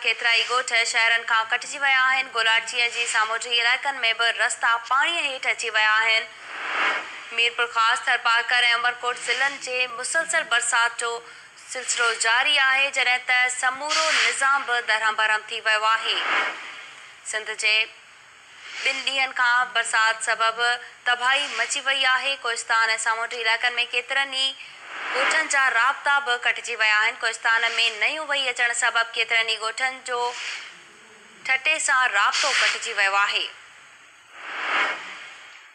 ڪيترائي ڳوٺ شهرن کان ڪٽجي ويا آهن، گولاڙچيء جي سامونڊي علائقن ۾ به رستا پاڻيء هيٺ اچي ويا آهن. ميرپورخاص، ٿرپارڪر ۽ عمرڪوٽ ضلعن جي مسلسل برسات جو سلسلو جاري آهي، جڏهن ته سمورو نظام به درهم برهم ٿي ويو آهي. سنڌ جي. ٻن ڏينهن کان برسات سبب تباهي مچي وئي آهي، ڪوهستان ۽ سامونڊي علائقن ۾ ڪيترن ئي ڳوٺن جا رابطا به ڪٽجي ويا آهن، ڪوهستان ۾ نيون وهي اچڻ سبب ڪيترن ئي ڳوٺن جو ٺٽي سان رابطو ڪٽجي ويو آهي.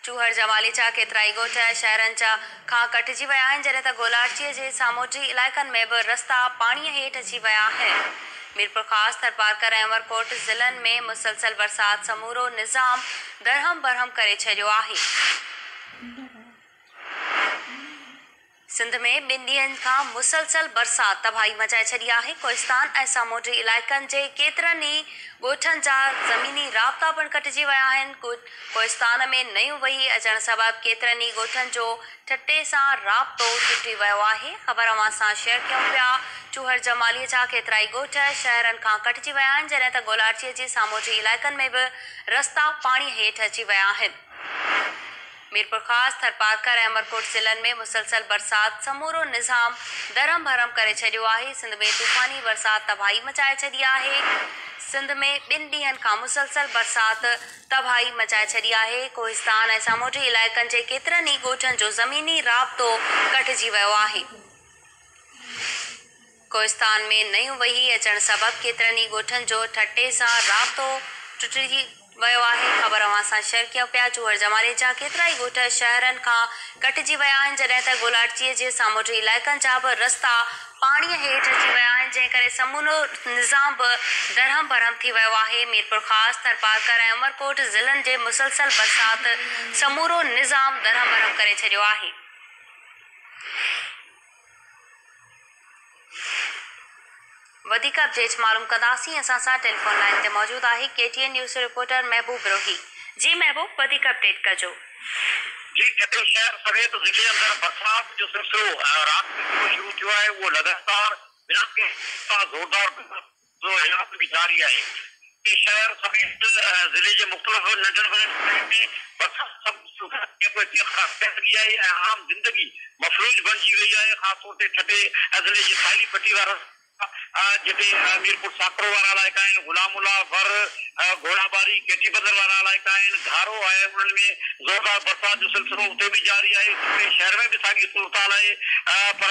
چوهر جا ماليچا ڪيترائي ڳوٺ ۽ شهرن چا کان ڪٽجي ويا آهن، جڏهن ته گولاڙچيء جي سامونڊي علائقن ۾ به رستا پاڻيء هيٺ اچي ويا آهن. ميرپورخاص، ٿرپارڪر ۽ عمرڪوٽ ضلعن ۾ مسلسل برسات سمورو نظام درهم برهم ڪري ڇڏيو آهي. سنڌ ۾ ٻن ڏينهن کان مسلسل برسات تباهي مچائي ڇڏي آهي، ڪوهستان ۽ سامونڊي علائقن جي ڪيترن ئي ڳوٺن جا زميني رابطا پڻ ڪٽجي ويا آهن، ڪوهستان ۾ نيون وهي اچڻ سبب ڪيترن ئي ڳوٺن جو ٺٽي سان رابطو ٽٽي ويو آهي، خبر اوهان سان شيئر ڪيون پيا، چوهڙ جمالي جا ڪيترائي ڳوٺ شهرن کان ڪٽجي ويا آهن، جڏهن ته گولاڙچيء جي سامونڊي علائقن ۾ به رستا پاڻي هيٺ اچي ويا آهن. ميرپورخاص، ٿرپارڪر ۽ عمرڪوٽ ضلعن ۾ مسلسل برسات سمورو نظام درهم برهم ڪري ڇڏيو آهي، سنڌ ۾ طوفاني برسات تباهي مچائي ڇڏي آهي، سنڌ ۾ ٻن ڏينهن کان مسلسل برسات تباهي مچائي ڇڏي آهي، ڪوهستان ۽ سامونڊي علائقن جي ڪيترن ئي ڳوٺن جو زميني رابطو ڪٽجي ويو آهي. ڪوهستان ۾ نيون وهي اچڻ سبب ڪيترن ئي ڳوٺن جو ٺٽي سان رابطو ٽٽجي ويو آهي. خبر اوهان سان شيئر ڪيون پيا چوهر جمالي جا ڪيترائي ڳوٺ شهرن کان ڪٽجي ويا آهن جڏهن ته گولاٽجي جي سامونڊي علائقن جا به رستا پاڻي هيٺ اچي ويا آهن جنهن ڪري سمورو نظام به درهم برهم ٿي ويو آهي ميرپورخاص ٿرپارڪر ۽ عمرڪوٽ ضلعن جي مسلسل برسات سمورو نظام درهم برهم ڪري ڇڏيو آهي. وڌيڪ اپڊيٽس معلوم ڪنداسين اسان سان ٽيليفون لائين تي موجود آهي ڪي ٽي اين نيوز جو رپورٽر محبوب روهي جي محبوب وڌيڪ اپڊيٽ ڪجو. جي ڪيترو شهر سويت ضلعي اندر برسات جو سلسلو رات کان شروع ٿيو آهي اهو لڳاتار بنا ڪنهن توسان زوردار برسات جو علائقو به جاري آهي. اتي شهر سميت ضلعي جي مختلف ننڍن وڏن شهرن ۾ برسات سبب سوکڙي ۽ ڪوهستي خراب ٿيڻ لڳي آهي ۽ عام زندگي مفلوج بڻجي وئي آهي خاص طور تي ٺٽي ضلعي جي ساحلي پٽي وارا علائقا جتي ميرپور ساڪرو وارا علائقا آهن غلام الله ور گهوڙا ٻاري ڪيٽي بندر وارا علائقا آهن گهارو آهي انهن ۾ زوردار برسات جو سلسلو اتي به جاري آهي ٺٽي شهر ۾ به ساڳي صورتحال آهي پر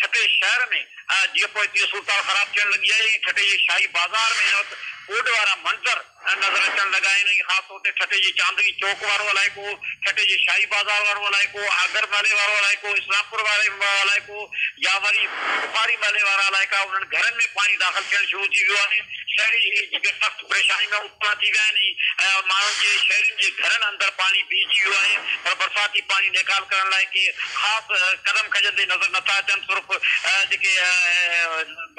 ٺٽي شهر ۾ ۽ جيئن پوء تيئن صورتحال خراب ٿيڻ لڳي آهي. ائين ٺٽي جي شاهي بازار ۾ هن وقت ٻوڏ وارا منظر نظر اچڻ لڳا آهن ۽ خاص طور تي ٺٽي جي چاندني چوڪ وارو علائقو، ٺٽي جي شاهي بازار وارو علائقو، آگر محلي وارو علائقو، اسلام پور وارو علائقو يا وري بخاري محلي وارا علائقا انهن گهرن ۾ پاڻي داخل ٿيڻ شروع ٿي ويو آهي. شهري جيڪي سخت پريشاني ۾ ڪپا ٿي ويا آهن ۽ ماڻهن جي شهرين جي گهرن اندر پاڻي بيهجي ويو آهي پر برساتي پاڻي نيڪال ڪرڻ لاء ڪي خاص قدم کنجندي نظر نٿا اچن صرف جيڪي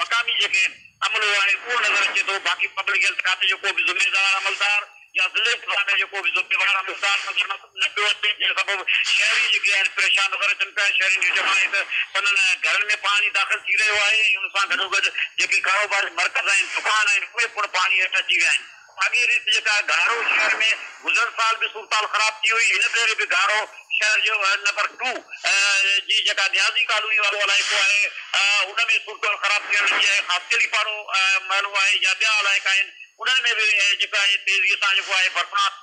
مقامي جيڪي عملو آهي اهو نظر اچي ٿو باقي پبلڪ هيلٿ کاتي جو ڪو به ذميدار عملدار يا ضلعي انتظاميه جو ڪو به ذميوار عملدار نظر نٿو نبيو اچي جنهن سبب شهري جيڪي آهن پريشان نظر اچن پيا، شهرين جو چوڻ آهي ته سندن گهرن ۾ پاڻي داخل ٿي رهيو آهي ۽ ان سان گڏوگڏ جيڪي ڪاروباري مرڪز آهن، دڪان آهن اهي پڻ پاڻي هيٺ اچي ويا آهن، ساڳي ريت جيڪا گهارو شهر ۾ گذريل سال به صورتحال خراب ٿي هئي هن ڀيري به گهارو شهر جو وارڊ نمبر ٽو جي جيڪا نيازي ڪالوني وارو علائقو آهي ان ۾ صورتحال خراب ٿيڻ لڳي آهي خاصخيلي پاڙو محلو آهي يا ٻيا علائقا آهن انهن ۾ به جيڪو آهي تيزي سان جيڪو آهي برسات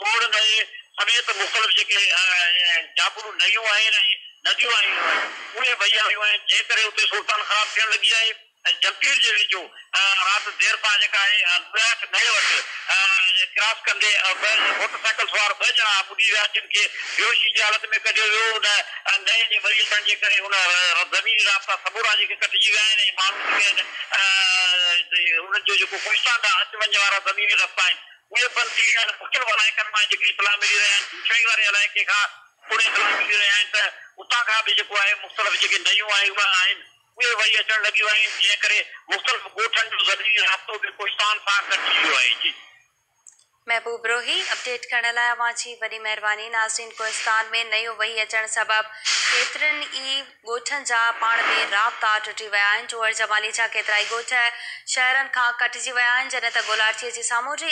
کوڙ نئين سميت مختلف جيڪي جابلو نئيون آهن ۽ نديون آهن اهي وهي آيون آهن جنهن ڪري اتي صورتحال خراب ٿيڻ لڳي آهي ۽ جمپير جي ويجهو رات دير سان جيڪا آهي لوياٺ نئين وٽ ڪراس ڪندي موٽر سائيڪل سوار ٻه ڄڻا ٻڏي ويا جن کي بيهوشي جي حالت ۾ ڪڍيو ويو ان نئين جي وري اچڻ جي ڪري ان زميني رابطا سمورا جيڪي ڪٽجي ويا آهن ۽ ماڻهو جيڪي آهن انهن جو جيڪو ڪوهستان ڏانهن اچ وڃ وارا زميني رستا آهن اهي پنٿي يا ته پڪين علائقن مان جيڪي اطلاع ملي رهيا آهن، بوشاهي واري علائقي کان پڻ اطلاع ملي رهيا آهن ته اتان کان به جيڪو آهي مختلف جيڪي نيون آهي اهي آهن اهي وهي اچڻ لڳيون آهن جنهن ڪري مختلف ڳوٺن جو زميني رابطو به ڪوهستان سان ڪٽجي ويو آهي. جي. محبوب روهي، اپڊيٽ ڪرڻ لاء اوهان جي وڏي مهرباني ناظرين ڪوهستان ۾ نيون وهي اچڻ سبب ڪيترن ئي ڳوٺن جا پاڻ ۾ رابطا ٽٽي ويا آهن جوهر جمالي جا ڪيترائي ڳوٺ شهرن کان ڪٽجي ويا آهن جڏهن ته گولاڙچيء جي سامونڊي